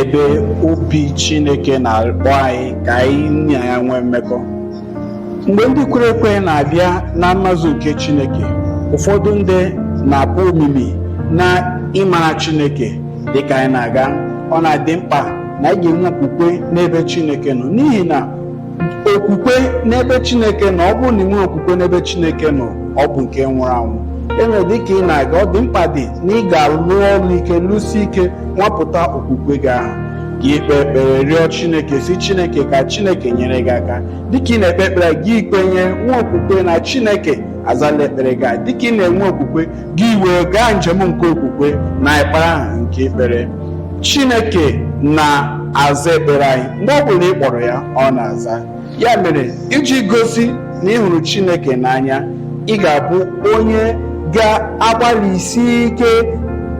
ebe obi Chineke na-akpọ anyị ka anyị na ya nwee mmekọ mgbe ndị kwere ekwe na-abịa na mmazu nke Chineke ụfọdụ ndị na-akpọ omimi na ịmara Chineke dịka anyị na-aga ọ na-adị mkpa na anyị ga-enwe okwukwe n'ebe Chineke nọ n'ihi na okwukwe n'ebe chineke nọ ọ bụrụ na i nwe okwukwe n'ebe chineke nọ ọ bụ nke nwụrụ anwụ ya mere dịka ị na-aga ọ dị mkpa dị na ị ga-alụ ọlụ ike lụsi ike nwapụta okwukwe gị ahụ gị kpee ekpere rịọ chineke sị chineke ka chineke nyere gị aka dịka ị na-ekpe ekpere gị kwenye nwee okwukwe na chineke azala ekpere gị dịka ị na-enwe okwukwe gị wee gaa njem nke okwukwe na ekpere ahụ nke i kpere chineke na-aza ekpere anyị mgbe ọ bụla ị kpọrọ ya ọ na-aza ya mere iji gosi na ị hụrụ chineke n'anya ị ga-abụ onye ga-agbalịsi ike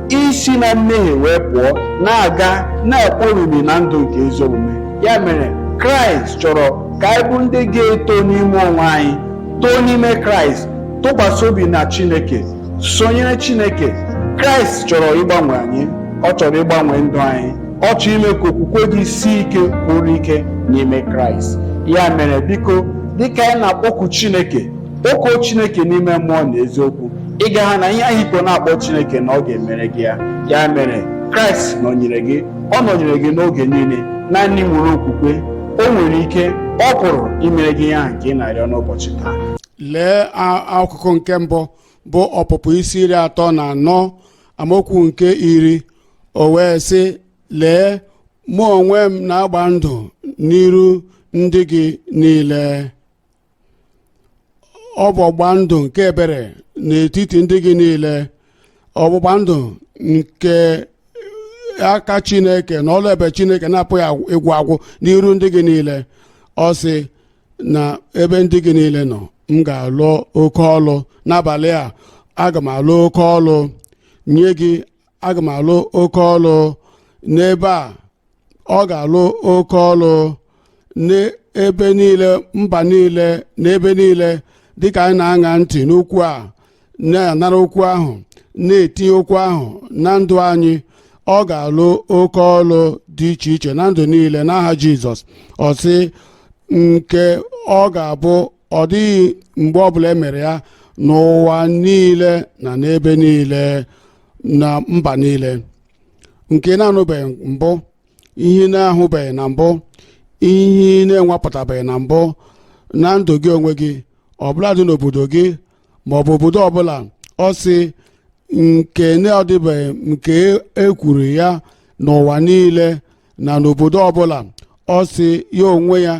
isi na mmehie wee pụọ na-aga na-ekwe omimi na ndụ nke ezi omume ya mere kraịst chọrọ ka anyị bụ ndị ga-eto n'ime onwe anyị too n'ime kraịst tụkwasị obi na chineke sonyere chineke kraịst chọrọ ịgbanwe anyị ọ chọrọ ịgbanwe ndụ anyị ọ chọrọ ime ka okwukwe gị sie ike kwụrụ ike n'ime kraịst ya mere biko dịka anyị na-akpọku chineke kpọkuo chineke n'ime mmụọ na eziokwu ị ga-ahụ na ihe ahụ i bu na-akpọ chineke na ọ ga-emere gị ya ya mere kraịst nọnyere gị ọ nọnyere gị n'oge niile naanị nwere okwukwe o nwere ike ọ pụrụ imere gị ihe ahụ nke ị na-arịọ n'ụbọchị taa lee a- akụkụ nke mbụ bụ ọpụpụ isi iri atọ na anọ amaokwu nke iri o wee sị lee mụ onwe m na-agba ndụ n'iru ndị gị niile ọgbụgba ndụ nke ebere n'etiti ndị gị niile ọgbụgba ndụ nke aka chineke na ọlụ ebube chineke na-apụghị agwụ- ịgwụ agwụ n'iru ndị gị niile ọ sị na ebe ndị gị niile nọ m ga-alụ oke ọlụ n'abalị a aga m alụ oke ọlụ nye gị aga m alụ oke ọlụ n'ebe a ọ ga-alụ oke ọlụ n'ebe niile mba niile n'ebe niile dịka anyị na-aṅa ntị n'okwu a na-anara okwu ahụ na-etinye okwu ahụ na ndụ anyị ọ ga-alụ oke ọlụ dị iche iche na ndụ niile n'aha jizọs ọ sị nke ọ ga-abụ ọ dịghị mgbe ọbụla e mere ya n'ụwa niile na n'ebe niile na mba niile nke ị na-anụbeghị mbụ ihe na-ahụbeghị na mbụ ihe na-enwapụtabeghị na mbụ na ndụ gị onwe gị ọbụladị n'obodo gị ma ọ bụ obodo ọbụla ọ sị nke na ọ dịbeghị nke ekwuru ya n'ụwa niile na n'obodo ọbụla ọ sị ya onwe ya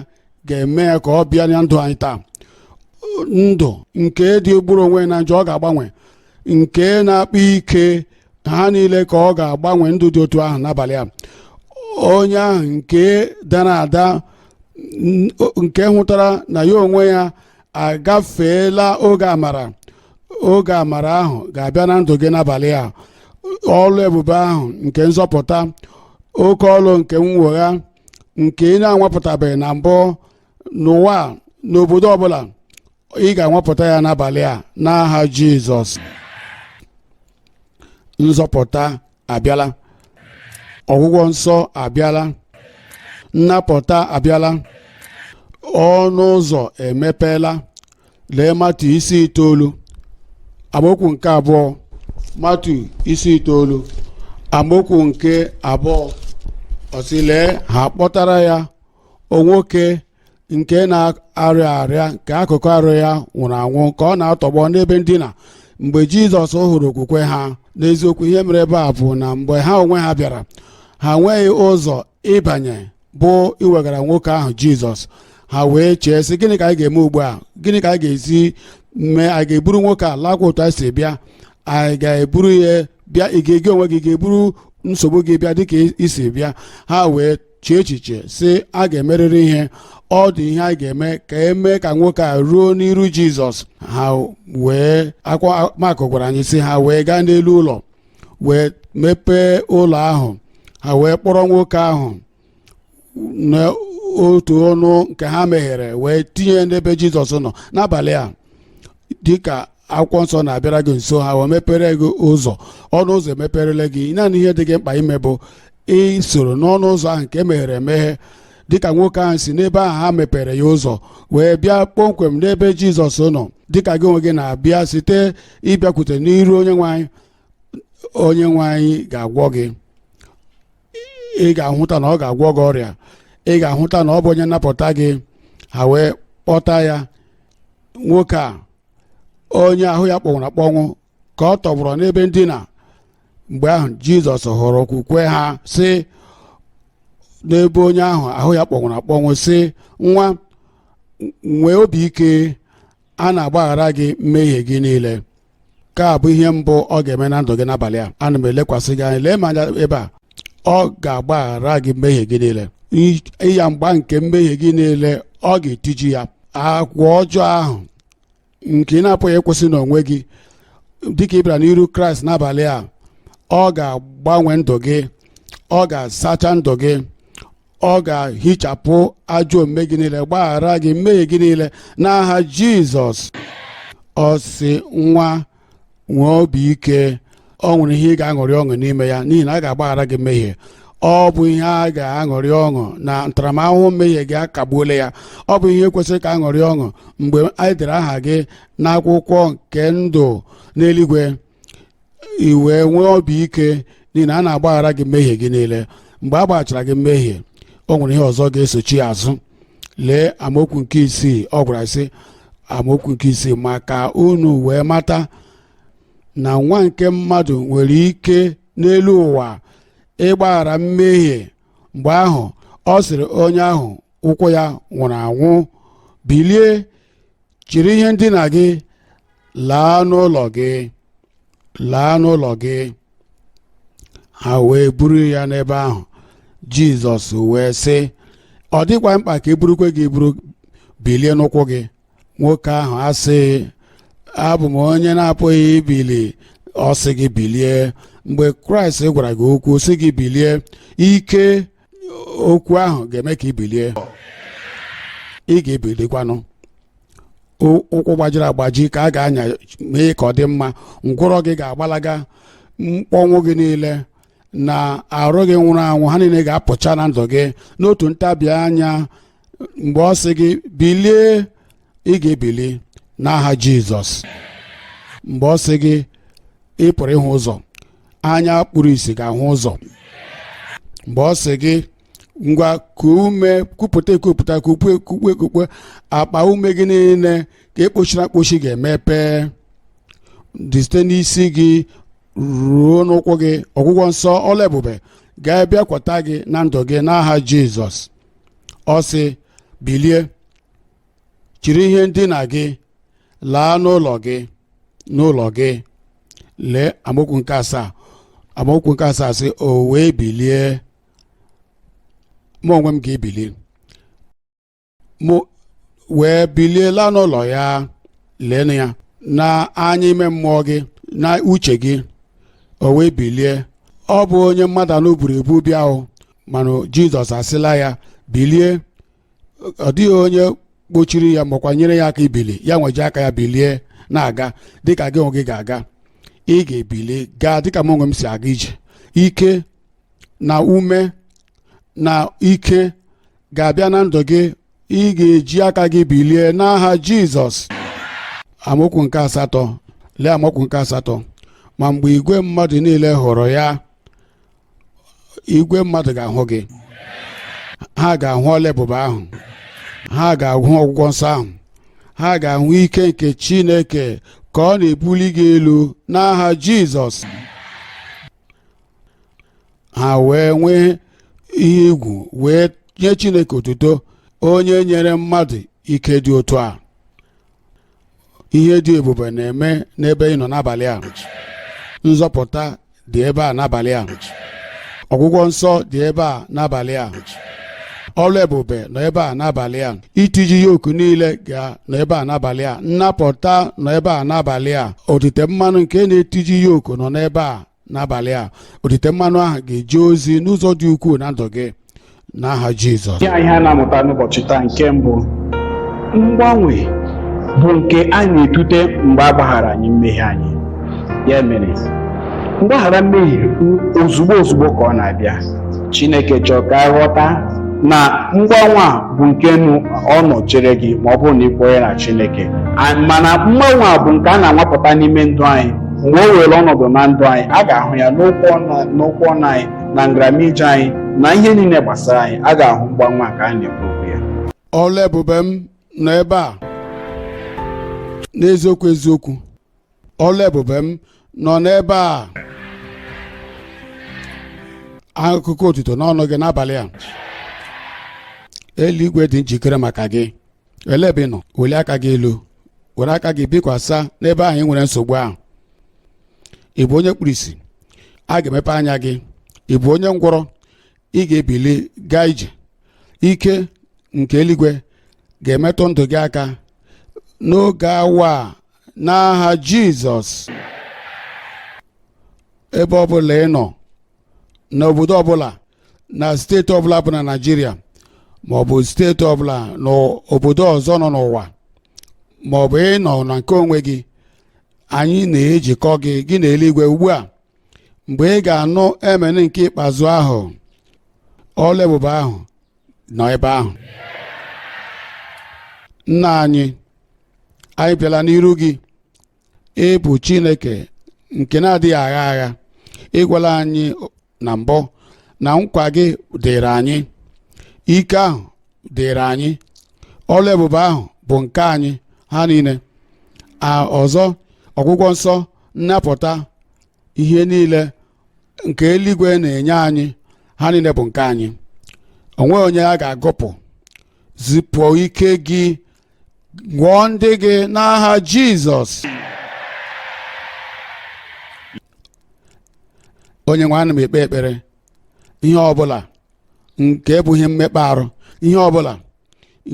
ga-eme ya ka ọ bịa na ndụ anyị taa ndụ nke dị gburu onwe na njọ ọ ga-agbanwe nke na-akpa ike ha niile ka ọ ga-agbanwe ndụ dị otu ahụ n'abalị a onye ahụ nke dara ada nke hụtara na ya onwe ya agafeela oge amara oge amara ahụ ga-abịa na ndụ gị n'abalị a ọlụ ebube ahụ nke nzọpụta oke ọlụ nke mwegha nke ị na-anwapụtabeghị na mbụ n'ụwa a, n'obodo ọbụla ị ga-anwapụta ya n'abalị a n'aha jizọs nzọpụta abịala ọgwụgwọ nsọ abịala nnapụta abịala ọnụ ụzọ emepeela lee matu isi itoolu amaokwu nke abụọ matu isi itoolu amaokwu nke abụọ ọ sị lee ha kpọtara ya o nwoke nke na-arịa arịa nke akụkụ arụ ya nwụrụ anwụ ka ọ na-atọgbọ n'ebe ndina mgbe jizọs hụrụ okwukwe ha n'eziokwu ihe mere ebe a bụ na mgbe ha onwe ha bịara ha nweghị ụzọ ịbanye bụ iwegara nwoke ahụ jizọs ha wee chee sị gịnị ka anyị ga-eme ugbu a gịnị ka anyị ga-esi mee anyị ga-eburu nwoke a lakwa otu anyị si bịa anyị ga-eburu ya bịa ị ga-e gị onwe gị ga-eburu nsogbu gị bịa dịka i si bịa ha wee chee echiche sị a ga-emerịrị ihe ọ dị ihe a ga-eme ka emee ka nwoke a ruo n'iru jizọs ha wee akwa makụ gwara anyị sị ha wee gaa n'elu ụlọ wee mepee ụlọ ahụ ha wee kpọrọ nwoke ahụ n'otu ọnụ nke ha meghere wee tinye n'ebe jizọs nọ n'abalị a dịka akwụkwọ nsọ na-abịara gị nso ha wee mepere gị ụzọ ọnụ ụzọ emeperele gị naanị ihe dị gị mkpa ime bụ isoro n'ọnụ ụzọ ahụ nke meghere emeghe dịka nwoke ahụ si n'ebe ahụ ha mepere ya ụzọ wee bịa kpọmkwem n'ebe jizọs nọ dịka gị onwe gị na-abịa site ịbịakwute n'iru onye nwe anyị onye nwe anyị ga-agwọ gị ị ga-ahụta na ọ ga-agwọ gị ọrịa ị ga-ahụta na ọ bụ onye nnapụta gị ha wee kpọta ya nwoke a onye ahụ ya kpọnwụrụ akpọnwụ ka ọ tọgbọrọ n'ebe ndina mgbe ahụ jizọs hụrụ okwukwe ha sị n'ebe onye ahụ ahụ ya kpọnwụrụ akpọnwụ sị nwa nwee obi ike a na-agbaghara gị mmehie gị niile nke a bụ ihe mbụ ọ ga-eme na ndụ gị n'abalị a ana m elekwasị gị anya lee m anya ebe a ọ ga-agbaghara gị mmehie gị niile ịyagba nke mmehie gị niile ọ ga-etiji ya agwa ọjọọ ahụ nke ị na-apụghị ịkwụsị n'onwe gị dịka ị bịara n'iru kraịst n'abalị a ọ ga-agbanwe ndụ gị ọ ga-asacha ndụ gị ọ ga-ehichapụ ajọ omume gị niile gbaghara gị mmehie gị niile n'aha jizọs ọ sị nwa nwee obi ike o nwere ihe ị ga-aṅụrị ọṅụ n'ime ya n'ihi na a ga-agbaghara gị mmehie ọ bụ ihe a ga-aṅụrị ọṅụ na ntaramahụhụ mmehie gị a kagbuola ya ọ bụ ihe kwesịrị ka a ṅụrị ọṅụ mgbe e dere aha gị n'akwụkwọ nke ndụ n'eluigwe i wee nwee obi ike n'ihi na a na-agbaghara gị mmehie gị niile mgbe a gbaghachara gị mmehie o nwere ihe ọzọ ga-esochi ya azụ lee amaokwu nke isii ọ gwara sị amaokwu nke isii ma ka unu wee mata na nwa nke mmadụ nwere ike n'elu ụwa ịgbaghara mmehie mgbe ahụ ọ sịrị onye ahụ ụkwụ ya nwụrụ anwụ bilie chịrị ihe ndina gị laa n'ụlọ gị laa n'ụlọ gị ha wee buru ya n'ebe ahụ jizọs wee sị ọ dịkwaghị mkpa ka e burukwe gị eburu bilie n'ụkwụ gị nwoke ahụ asị abụ m onye na-apụghị ibili ọ sị gị bilie mgbe kraịst gwara gị okwu sị gị bilie ike okwu ahụ ga-eme ka i bilie ị ga-ebilikwanụ ụkwụ gbajiri agbaji ka a ga-anya mee ka ọ dị mma ngwụrọ gị ga-agbalaga mkpọnwụ gị niile na arụ gị nwụrụ anwụ ha niile ga-apụcha na ndụ gị n'otu ntabi anya mgbe ọ sị gị bilie ị ga-ebili n'aha jizọs mgbe ọ sị gị ị pụrụ ịhụ ụzọ anya kpuru isi ga-ahụ ụzọ mgbe ọ sị gị ngwa kuo ume kupụta ekupụta kukwe ekukwe akpa ume gị niile a kpọchiri akpọchi ga-emepe dị site n'isi gị ruo n'ụkwụ gị ọgwụgwọ nsọ ọlụ ebube ga-abịakwata gị na ndụ gị n'aha jizọs ọ sị bilie chịrị ihe ndina gị laa n'ụlọ gị n'ụlọ gị lee amaokwu nke asaa amaokwu nke asaa sị o wee bilie mụ onwe m ga-ebili o wee bilie laa n'ụlọ ya leenụ ya na anya ime mmụọ gị na uche gị o wee bilie ọ bụ onye mmadụ anọ buru ebu bịa o mana jizọs asịla ya bilie ọ dịghị onye kpochiri ya makwa nyere ya aka ibili ya nwe ji aka ya bilie na-aga dịka gị onwe gị ga-aga ị ga-ebili gaa dịka m onwe m si aga ije ike na ume na ike ga-abịa na ndụ gị ị ga-eji aka gị bilie n'aha jizọs amaokwu nke asatọ lee amaokwu nke asatọ ma mgbe igwe mmadụ niile hụrụ ya igwe mmadụ ga-ahụ gị ha ga-ahụ ọlụ ebube ahụ ha ga-ahụ ọgwụgwọ nsọ ahụ ha ga-ahụ ike nke chineke ka ọ na-ebuli gị elu n'aha jizọs ha wee nwee ihe egwu wee nye chineke otuto onye nyere mmadụ ike dị otu a ihe dị ebube na-eme n'ebe ị nọ n'abalị a nzọpụta dị ebe a n'abalị a ọgwụgwọ nsọ dị ebe a n'abalị a ọlụ ebube nọ ebe a n'abalị a itiji yoku niile ga nọ ebe a n'abalị a nnapụta nọ ebe a n'abalị a otite mmanụ nke na-etiji yoku nọ n'ebe a n'abalị a otite mmanụ ahụ ga-eje ozi n'ụzọ dị ukwuu na ndụ gị n'aha jizọs ya ihe a na-amụta n'ụbọchị taa nke mbụ mgbanwe bụ nke a na-etute mgbe a gbaghara anyị mmehie anyị ya mere mgbaghara mmehie ozugbo ozugbo ka ọ na-abịa chineke chọrọ ka anyị ghọta na mgbanwe a bụ nke na ọ nọ chere gị ma ọ bụrụ na ị kwere na chineke mana mgbanwe a bụ nke a na-anwapụta n'ime ndụ anyị mgbe o were ọnọdụ na ndụ anyị a ga-ahụ ya n'okwu ọnụ anyị na nramije anyị na ihe niile gbasara anyị a ga-ahụ mgbanwe a ka a na-ekwu okwu ya ọlụ ebube m nọ ebe a n'eziokwu eziokwu ọlụ ebube m nọ n'ebe a akụkọ otuto n'ọnụ gị n'abalị a eluigwe dị njikere maka gị elee ebe ị nọ welie aka gị elu were aka gị bikwasa n'ebe ahụ ị nwere nsogbu ahụ ị bụ onye kpuru isi a ga-emepe anya gị ị bụ onye ngwọrọ ị ga-ebili gaa ije ike nke eluigwe ga-emetụ ndụ gị aka n'oge awa a n'aha jizọs ebe ọ bụla ị nọ n'obodo ọbụla na steeti ọbụla bụ na naịjirịa maọbụ steeti ọbụla n'obodo ọzọ nọ n'ụwa maọbụ ị nọ na nke onwe gị anyị na-ejikọ gị gị na eluigwe ugbu a mgbe ị ga-anụ amen nke ikpeazụ ahụ ọlụ ebube ahụ nọ ebe ahụ nna anyị anyị bịala n'iru gị ị bụ chineke nke na-adịghị agha agha ị gwala anyị na mbụ na nkwa gị dịrị anyị ike ahụ dịrị anyị ọlụ ebube ahụ bụ nke anyị ha niile a ọzọ ọgwụgwọ nsọ nnapụta ihe niile nke eluigwe na-enye anyị ha niile bụ nke anyị o nweghị onye a ga-agụpụ zipụ ike gị gwọọ ndị gị n'aha jizọs onye nwe ana m ekpe ekpere ihe ọbụla nke bụ ihe mmekpa arụ ihe ọbụla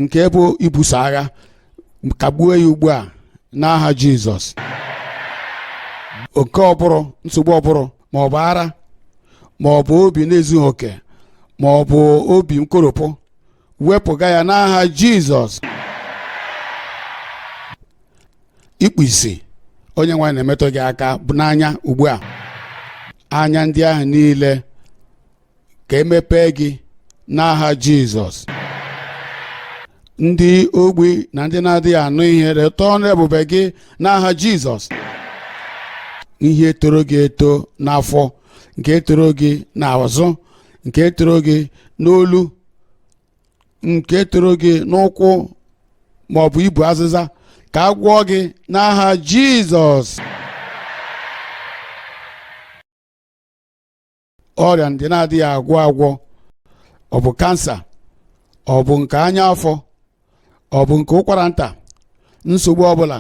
nke bụ ibuso agha kagbuo ya ugbu a n'aha jizọs oke ụbụrụ nsogbu ụbụrụ ma ọ bụ ara ma ọ bụ obi na-ezughị oke ma ọ bụ obi nkoropụ wepụga ya n'aha jizọs ikpu isi onye nwe anyị na-emetụ gị aka n'anya ugbu a anya ndị ahụ niile ka e mepee gị n'aha jizọs ndị ogbi na ndị na-adịghị anụ ihe nweta ọlụ ebube gị n'aha jizọs ihe toro gị eto n'afọ nke toro gị n'azụ nke toro gị n'olu nke toro gị n'ụkwụ ma ọ bụ ibu azịza ka a gwọọ gị n'aha jizọs ọrịa ndị na-adịghị agwọ agwọ ọ bụ kansa ọ bụ nke ọnya afọ ọ bụ nke ụkwara nta nsogbu ọbụla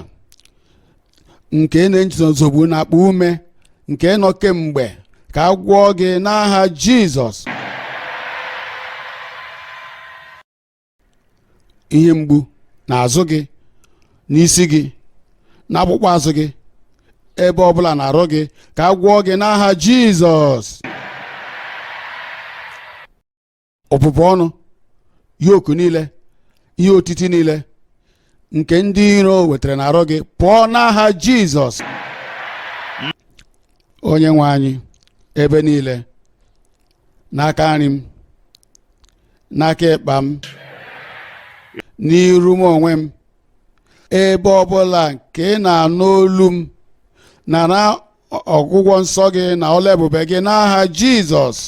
nke na-enye gị nsogbu n'akpa ume nke nọ kemgbe ka a gwọọ gị n'aha Jizọs ihe mgbu n'azụ gị n'isi gị n'ọkpụkpụ azụ gị ebe ọbụla n'arụ gị ka a gwọọ gị n'aha jizọs ọbụbụ ọnụ yoku niile ihe otiti niile nke ndị iro wetara n'arụ gị pụọ n'aha jizọs onye nwe anyị ebe niile n'aka nri m n'aka ịkpa m n'iru m onwe m ebe ọbụla nke ị na-anụ olu m nara ọ- ọgwụgwọ nsọ gị na ọlụ ebube gị n'aha jizọs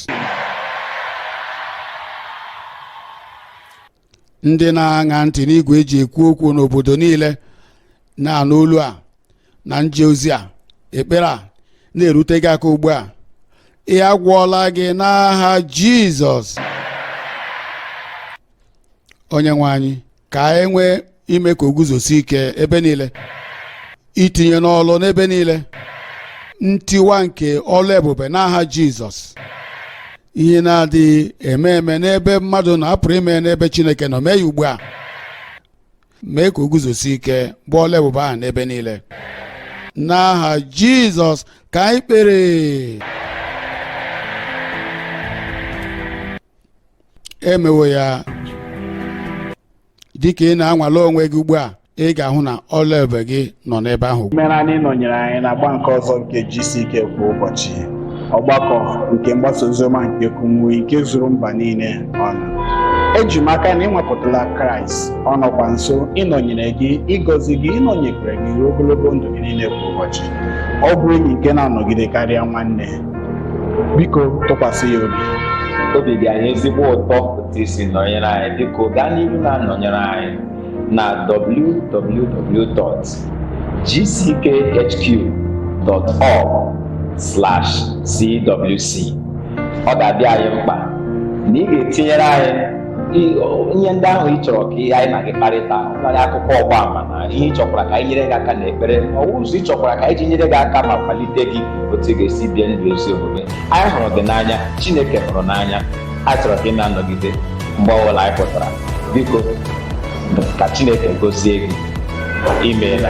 ndị na-aṅa ntị n'igwe eji ekwu okwu n'obodo niile na-anụ olu a na nje ozi a ekpere a na-erute gị aka ugbu a ị a gwọọla gị n'aha jizọs onye nwe anyị ka e nwee ime ka o guzosi ike ebe niile itinye n'ọlụ n'ebe niile ntiwa nke ọlụ ebube n'aha Jizọs ihe na-adịghị eme eme n'ebe mmadụ nọ a pụrụ ime n'ebe Chineke nọ mee ya ugbu a mee ka o guzosi ike bụ ọlụ ebube ahụ n'ebe niile n'aha Jizọs ka anyị kpere emewo ya dịka ị na-anwale onwe gị ugbu a ị ga-ahụ na ọlụ ebube gị nọ n'ebe ahụ imeela na ị nọnyere anyị n'agba nke ọzọ nke GCK kwa ụbọchị ọgbakọ nke mgbasa oziọma nke Kumuyi nke zuru mba niile ọnụ eji m aka na ị nwapụtala Kraịst ọ nọkwa nso ịnọnyere gị ịgọzi gị ịnọnyekwere gị ruo ogologo ndụ gị niile kwa ụbọchị ọ bụ enyi nke na-anọgide karịa nwanne biko tụkwasị ya obi obi dị anyị ezigbo ụtọ otu i si nọnyere anyị biko gaa n'ihu na-anọnyere anyị na www.gckhq.org/cwc ọ ga-adị anyị mkpa na ị ga-etinyere anyị ihe ndị ahụ ị chọrọ ka anyị na gị kparịta karị akụkọ ọgba ama na ihe ị chọkwara ka anyị nyere gị aka n'ekpere ọwụ ụzọ ị chọkwara ka anyị ji nyere gị aka ma kwalite gị otu ị ga-esi bie ndụ ezi omume anyị hụrụ gị n'anya chineke hụrụ n'anya a chọrọ ka ị na-anọgide mgbe ọbụla anyị pụtara biko ka chineke gozie gị imeela